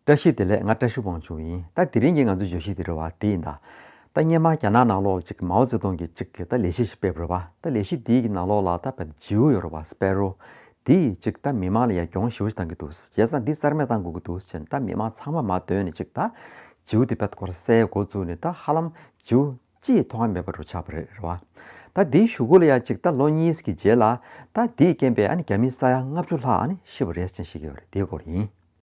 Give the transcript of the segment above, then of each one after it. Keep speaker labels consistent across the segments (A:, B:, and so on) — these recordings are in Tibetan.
A: བཀྲ་ཤིས་བདེ་ལེགས་ང་བཀྲ་ཤིས་དབང་ཕྱུག་ཡིན་ད་དེ་རིང་གི་ང་ཚོའི་བརྗོད་གཞི་དེ་རེད་བ་དེ་ཡིན་ད། ད་སྙན་མ་རྒྱ་ནག་ནང་ལོག་ལ་ཅིག་མའོ་ཙེ་ཏུང་གིས་ཅིག་གིས་ད་ལས་གཞི་ཞིག་སྤེལ་རོ་བ་ད་ལས་གཞི་དེའི་གི་ནང་ལོག་ལ་ད་བ་དེ་ཇིའུ་ཡོ་རོ་བ་སྤེལ་རོ། དེ་ཡིས་ཅིག་ད་མི་མང་ལ་ཡ་རྒྱོང་ཞིའོ་ཞིག་གཏང་གི་འདུག་བྱས་ཙང་འདི་གསར་མས་གཏང་དགོས་ཀྱི་འདུག་བྱས་ནས་ད་མི་མང་ཚང་མ་མ་བསྡོད་ནས་ཅིག་ད། ཇིའུ་དེ་བ་ད་སྐོར་གསལ་མགོ་བཙུགས་ནས་ད་ཧ་ལམ་ཇིའུ་ཅིའི་མཐོང་ང་མེད་པ་རུ་ཆགས་པ་རེད་རེད་བ། ད་དེའི་ཞུ་སྒོ་ལ་ཡ་ཅིག་ད་ལོ་གཉིས་ཀྱི་རྗེས་ལ་ད་དེའི་རྐྱེན་པས་ཨ་ནི་རྒྱ་མི་ས་ཡ་ལྔ་བཅུ་ལྷག་ཨ་ནི་ཤི་བ་རེད་ཅན་ཞིག་ཡོད་རེད་དེའི་སྐོར་ཡིན།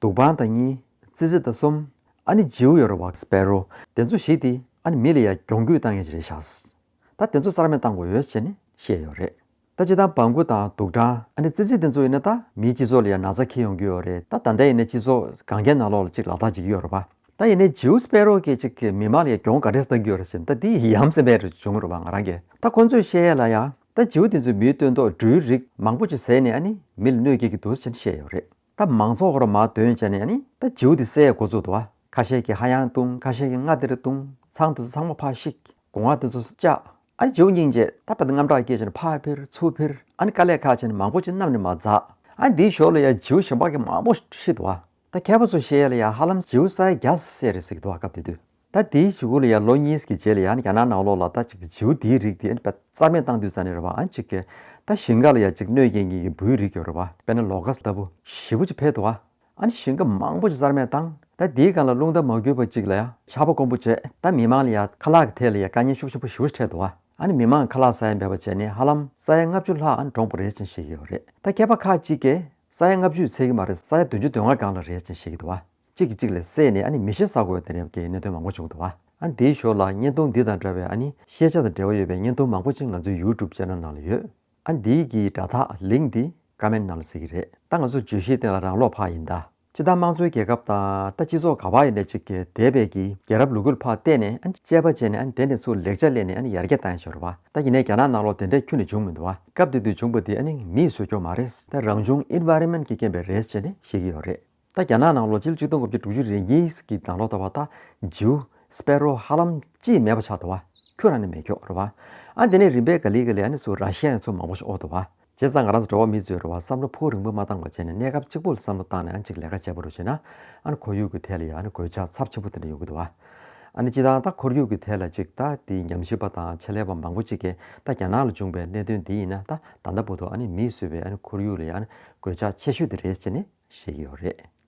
A: དུག་སྦང་དང་གཉིས། ཙི་ཙི་དང་གསུམ། ཨཱ་ནི་ཇིའུ་ཡོ་རོ་བྷག་སྤེ་རོ། དེ་ཚོ་ཞིག་དེ་ཨཱ་ནི་མི་ལ་ཡ་གྱོང་གུད་བཏང་ཡས་ཅི་རེད་ཤགས། ད་དེ་ཚོ་རྩར་མེད་བཏང་དགོས་ཡོད་ཅེས་ནི་བཤད་ཡོད་རེད། ད་ཅི་དང་སྦང་གུ་དང་དུག་སྦྲང་ཨཱ་ནི་ཙི་ཙི་དེ་ཚོ་ཡིན་ན་ད་མིའི་སྤྱི་ཚོགས་ལ་ཡ་ན་ཚ་ཁེལ་ཡོང་གི་ཡོད་རེད་ད་ད་ལྟ་ཡེ་ནས་སྤྱི་ཚོགས་གངས་རྒྱན་ནང་ལོག་ལ་ཅིག་ལག་རྟགས་འཇིག་གི་ཡོད་རེད་བ། ད་ཡེ་ནས་ཇིའུ་སྤེ་རོ་སྐད་ཅིག་གིས་མི་དམངས་ལ་ཡ་གྱོང་ག་རེ་བཏང་གི་ཡོད་རེད་ཅེས་ད་དེ་ཡི་ཡམ་སེམས་པས་རེད་བྱུང་རེད་བ་ང་རང་གིས་ད་ཁོ་ཚོས་བཤད་ཡས་ལ་ཡ་ད་ཇིའུ་དེ་ཚོས་མིའི་སྟོན་ཐོག་འབྲུའི་རིགས་མང་པོ་ཅིག་ཟས་ནས་ཨཱ་ནི་མི་ལ་གནོད་སྐྱེལ་གི་འདུག་ཅེས་ནི་བཤད་ཡོད་རེད། ད་མང་ཚོགས་ཧོར་མ་དོན་བྱས་ནས་ནི་ད་བྱིའུ་དེ་བསད་འགོ་བཙུགས་འདུག་ཁ་ཤས་ཀྱིས་ཧ་ཡང་བཏུང་ཁ་ཤས་ཀྱིས་ང་དེར་བཏུང་ཚང་དེ་ཚོ་ཚང་མ་ཕ་ཤིག་དགོ་ང་དེ་ཚོ་བཅག་ཨ་ནི་བྱིའུ་སྙིང་རྗེ་ད་ཕ་དེ་རྔམ་སྐྲག་སྐྱེས་བྱས་ནས་ཕ་ཕེར་ཚུར་ཕེར་ཨ་ནི་དཀའ་ལས་ཁག་བྱས་ནས་མང་པོ་ཅི་རྣམས་ནི་མ་འཛག་ཨ་ནི་དེའི་ཞོར་ལ་ཡང་བྱིའུ་ཞེ་འབག་གི་མང་པོ་ཧྲིལ་འདུག་ད་མཁས་པ་ཚོ་བཤད་ལ་ཡང་ཧ་ལམ་བྱིའུ་སའི་རྒྱ་སེ་རེད་ཟེར་གྱི་འདུག་སྐབས་དེ་དུས། ད་དེའི་བྱེད་སྒོ་ལ་ཡང་ལོ་གཉིས་ཀྱི་རྗེས་ལ་ཡང་རྒྱ་ནག་ནང་ལོགས་ལ་ད་ཅིག་བྱེའུ་དེའི་རིགས་དེ་ཨེ་རྩ་མེད་བཏང་དུས་ས་ནས་རེད་བ་ཨ་ཅིག་གེ། ད་ཞིང་ཁ་ལ་ཡང་ཅིག་གནོད་སྐྱེལ་ངེས་ཀྱི་འབུའི་རིགས་ཡོད་རེད་བ་དཔེར་ན་ལོ་ཀ་ལྟ་བུ་བཞི་བོ་ཅིག་འཕེལ་འདུག་བ་ཨ་ནི་ཞིང་ཁ་མང་པོ་ཅིག་རྩར་མེད་བཏང་ད་དེའི་སྒང་ལ་རླུང་རྟ་མ་རྒུད་བ་ཅིག་ལ་ཡང་ཆར་པ་དཀོན་པོ་བྱས་ད་མི་མང་ལ་ཡང་ཁ་ལག་གི་ཐད་ལ་ཡང་དཀའ་ཉེན་ཤུགས་ཆེན་པོ་བཞི་བོ་ཅིག་འཕྲད་འདུག་བ་ཨ་ནི་མི་མང་ཁ་ལག་ས་ཡ་འབེལ་བ་བྱས་ནས་ཧ་ལམ་ས་ཡ་ལྔ་བཅུ་ལྷག་ཨ་ནི་འགྲོངས་པ་རེད་ཅིང་ཤེས་ཀྱི་ཡོད་རེད་ད་མཁས་པ་ཁ་ཅིག་གིས་ས་ཡ་ལྔ་བཅུ་ཡི་ཚད་ཀྱི་མ་རེད་ས་ཡ་བདུན་ཅུ་དོན་ལྔ་སྒང་ལ་རེད་ཅིང་ཤེས་ཀྱི་འདུག་བ། གཅིག་གིས་གཅིག་ལ་བསད་ནས་ཨ་ནི་མི་ཤི་ས་དགོས་ད་རེབ་ཀྱི་གནད་དོན་མང་པོ་བྱུང་འདུག་ཨ་འདིའི་ཞོར་ལ་བརྙན་ཐུང་འདི་དང་འདྲ་བའི་ཨ་ནི་ཤེས་བྱ་དང་འབྲེལ་བ་ཡོད་པའི་བརྙན་ཐུང་མང་པོ་ཅིག་ང་ཚོའི YouTube Channel ནང་ལ་ཡོད་ཨ་འདིའི་གི་དྲ་ཐག Link འདི Comment ནང་ལ་གཟིགས་ཀྱི་རེད་ད་ང་ཚོ་བརྗོད་གཞིའི་སྟེང་ལ་རང་ལོག་འཕགས་ཡིན་ད་སྤྱི་དང་དམངས་གཙོའི་རྒྱལ་ཁབ་དང་ད་སྤྱི་ཚོགས་ག་བ་ཡིན་ད་ཅིག་གི་དེ་བས་གི་རྒྱལ་རབས་ལུ་གུལ་འཕགས་བལྟས་ནས་ཨ་ནི་དཔྱད་པ་བྱས་ནས་ཨ་ནི་དེ་ནས་ཚུར་ལེགས་ཆ་བསླེས་ནས་ཨ་ནི་ཡར་རྒྱས་བཏང་ཞོར་བ་ད་ཡིན་ནའི་རྒྱ་ནག་ནང་ལོག་དེ་འདྲའི་ཁྱུ་ནི་བྱུང་མི་འདུག་ཨ་སྐབས་དེ་དུས་བྱུང་པ་དེ་ཨ་ནི་མིས་བཟོས་ཀྱོག་མ་རེད་ད་རང་བྱུང Environment གི་རྐྱེན་པས་རེད་ཅེས་ནི་བཤད་ཀྱི་ཡོད་རེད། ད་རྒྱ་ནག་ནང་ལོ་ཆིལ་བཅུ་སྟོང་དགུ་བརྒྱ་དྲུག་ཅུ་རེ་གཉིས་ཀྱི་ནང་ལོག་ད་བ་ད། ཇིའུ། Sparrow། ཧ་ལམ། ཅིས་མེད་པ་ཆགས་ད་བ། ཁྱོད་རང་ནི་མེད་ཁྱོག་རེད་བ། ཨ་འདི་ནས་རིམ་པས་ག་ལི་ག་ལི་ཨ་ནི་སུ་ར་ཤི་ཡ་ནི་ཚོ་མང་པོ་ཞིག་ཨོ་ད་བ། བྱས་ཙང་ང་རང་ཚོ་འགྲོ་བ་མི་ཚོས་རེ་བ་བསམ་བློ་ཕུགས་རིང་པོ་མ་བཏང་བ་བྱས་ནས་གནས་སྐབས་གཅིག་པུ་ལ་བསམ་བློ་བཏང་ནས་ཨ་ཅིག་ལས་ཀ་བྱས་པ་རུ་བྱས་ན། ཨ་ནི་ཁོར་ཡུག་གི་ཐད་ལ་ཡང་ཨ་ནི་གོད་ཆག་ཚབས་ཆེན་པོ་དེ་འདྲ་ཡོང་གི་ད་བ། ཨ་ནི་སྤྱི་དང་ད་ཁོར་ཡུག་གི་ཐད་ལ་ཅིག་ད་དེའི་ཉམས་ཞིབ་པ་དང་ཆེད་ལས་པ་མང་པོ་ཅིག་གིས་ད་རྒྱ་ནག་ལ་བྱུང་བའི་གནད་དོན་འདི་ཡིན་ན་ད། ད་ལྟ་བོ་དུ་མིས་བཟོས་པའི་ཁོར་ཡུག་ལ་གོད་ཆག་ཆེ་ཤོས་དེ་རེད་ཅེས་བཤད་ཀྱི་ཡོད་རེད།